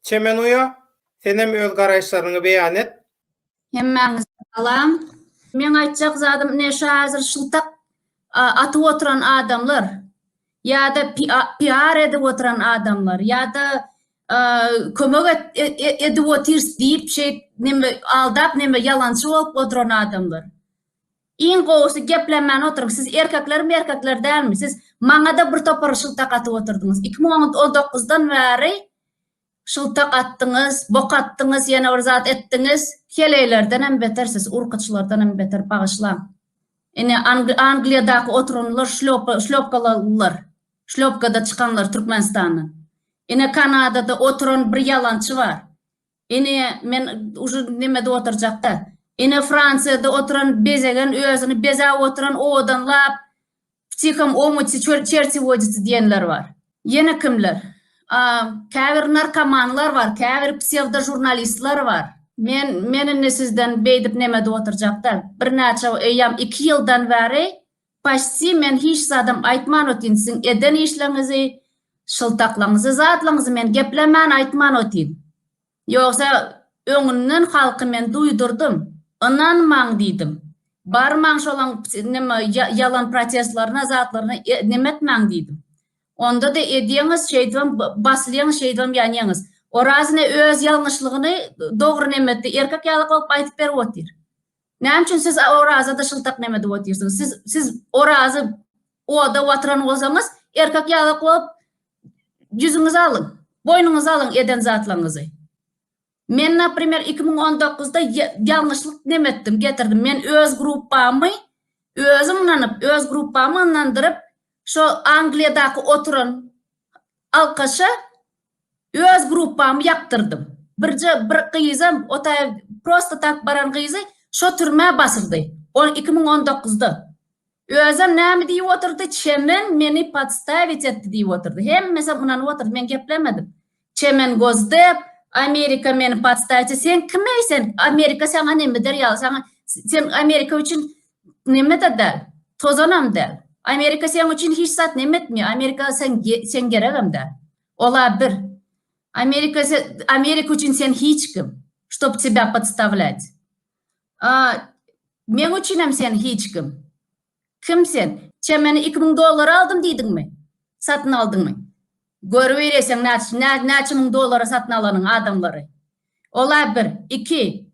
Çemen uýa, senem öz garaýyşlaryňy beýan et. Hemmäňize salam. Meň aýtjak zadym ine şu hazir şyltak atyp oturan adamlar ýa-da PR edip oturan adamlar ýa-da kömek edip otyrs diýip şeýip neme aldap neme ýalançy bolup oturan adamlar. Iň gowusy geplenmän oturyň siz erkekler merkekler dälmi siz maňada bir topar şyltak atyp oturdyňyz iki müň on on dokuzdan bäri şyltak atdyňyz bok atdyňyz ýene bir zat etdiňiz heleýlerdenem beter siz urkaçylardanam beter bagyşlaň ine angliýadaky oturanlar şlýopa şlýopkalalylar şlýopkada çykanlar türkmenistandan ine kanadada oturan bir ýalançy bar Ine men uje nemede oturjakda. Ine Fransiýada oturan bezegen özüni bezäp oturan owadan lap ptikom omutsi çerti woditsi diýenler bar. Ýene kimler? A käbir narkomanlar bar, käbir psewdo žurnalistler bar. Men men indi sizden beýdip nemede oturjakda. Birnäçe eýýam iki ýyldan bäri Paçsi men hiç zadam aýtman otyn siziň eden işleriňizi şyltaklaňyzy zatlaňyzy men geplemän aýtman otyn ýogsa öňünden halky men duýdurdym ynanmaň diýdim barmaň şolaň nime ýalan protestlerine zatlaryna nime etmäň diýdim ondada edýeňiz şeýdibem basylýaňyz şeýdibem ýanýaňyz Oraz ine öz ýalňyşlygyny dogry nime etdi erkek ýalak bolup aýdyp berip otyr. Näme üçin siz Orazada şyltak neme edip otyrsyňyz? Siz siz Orazy oda watyran bolsaňyz, erkek ýagyk bolup ýüzüňizi alyň. Boýnuňyzy alyň eden zatlaňyzy. Men naprimer 2019-da ýalňyşlyk neme etdim, getirdim. Men öz gruppamy özüm ynanyp, öz gruppamy ynandyryp, şo Angliýadaky oturan alkaşa Öz gruppamy ýakdyrdym. Birje bir gyzam, o taý prosta tak baran gyzy şo türmä basyldy. Ol iki müň on dokuzda. Özem näme diýip otyrdy, Çemen meni podstawit etdi diýip otyrdy. Hemmesem ynanyp otyrdy, men geplemedim. Çemen Gozdep, Amerika meni podstawit etdi. Sen kim eý sen? Amerika saňa näme eder ýaly? Saňa, sen Amerika üçin Neme-de däl. Tozanam däl. Amerika seň üçin hiç zat neme etmeýär. Amerika seň seň geregem däl. Ol-a bir. Amerika se Amerika üçin sen hiç kim. Ştob tebä podstavlýat. A meň üçinem sen hiç kim. Kim sen? Çemeni iki müň dollara aldym diýdiňmi? Satyn aldyňmy? Görübereýseň näç nä näçe müň dollara satyn alanyňy adamlary. Ola bir, iki,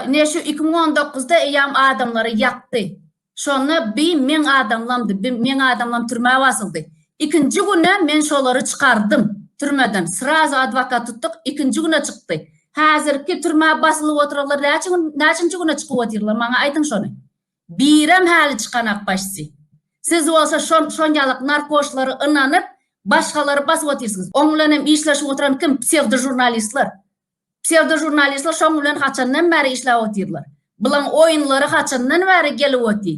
ine şu iki müň on dokuzda eýýam adamlary ýakdy. Şonda bi meň adamlamdy, bi meň adamlam türmä basyldy. Ikinji güne men şolary çykardym türmeden, srazu adwokat tutduk, ikinji güne çykdy. Häzirki türmä basylyp oturanlar näçe gün, näçinji güne çykyp otyrlar, maňa aýdyň şony. Birem häli çykanak başçy. Siz bolsa şol şonjalyk narkoşlary ynanyp başgalary basyp otyrsyňyz. Oň bilen hem işleşip oturan kim? Psewdo žurnalistler. Psewdo žurnalistler şoň bilen haçandan bäri işläp otyrlar. Bulaň oýunlary haçandan bäri gelip oty?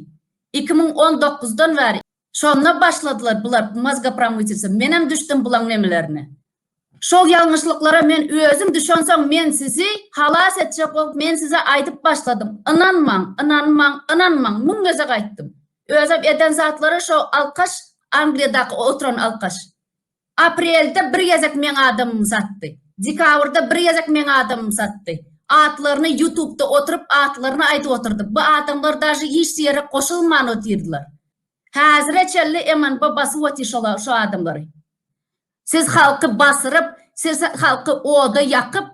Iki müň on dokuzdan bäri. Şonda başladylar bular mozgopramytelce menem düşdüm bulaň nemelerine. Şol ýalňyşlyklara men özüm düşensoň men sizi halas etjek bolup men size aýdyp başladym ynanmaň ynanmaň ynanmaň müň gezek aýtdym. Özem eden zatlary şo alkaş angliýadaky oturan alkaş. Aprelde bir gezek meň adamym satdy. Dekabrda bir gezek meň adamym satdy. Atlaryny ýutubda oturyp atlaryny aýdyp otyrdy. Bu adamlar dažy hiç ýere goşulman otyrdylar. Häzire çenli MNB basyp otyr şolar şu adamlary. Siz halky basyryp, siz halky oda ýakyp,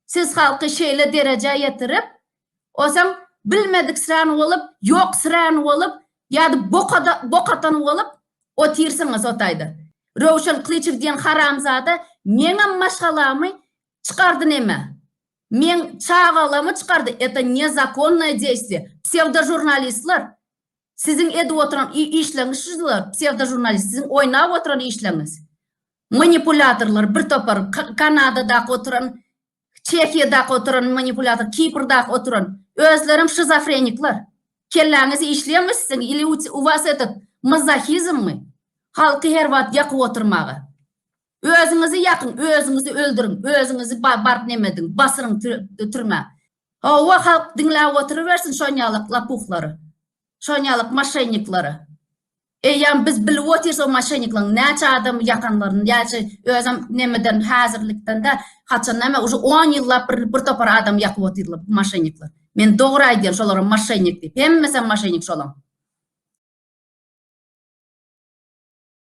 siz halky şeýle derejä ýetirip, Onsoň bilmediksirän bolup, ýoksirän bolup, ýa-da bokada bok atan bolup otyrsyňyz o taýda. Röwşen Klyçew diýen haramzada meňem maşgalamy çykardy neme? Meň çagalamy çykardy, eta nezakonnoe deýstwie. Psewdožurnalistler, siziň edip oturan işleňiz şular, psewdožurnalist, siziň oýnap oturan işleňiz. Manipulýatorlar bir topar, Kanadadaky oturan Çehiýadaky oturan manipulator Kiprdaky oturan özlerem şizofrenikler. Kelläňiz işleýärmi siziň ili u was etet mazohizmmi halky her wagt ýakyp oturmaga. Özüňizi ýakyň özüňizi öldüriň özüňizi baryp neme ediň basyryň türmä. Howwa halk diňläp oturybersin şonýalak lapuhlary şonýalak maşenniklary. Eýýäm biz bilip otyrys o maşennikleriň näçe adamy ýakanlaryny, näçe özem nemeden häzirlikdende haçan näme uje on ýyllap bir bir topar adamy ýakyp otyrlar bu maşennikler. Men dogry aýdýan şolara maşennik diýip. Hemmesem maşennik şolaň.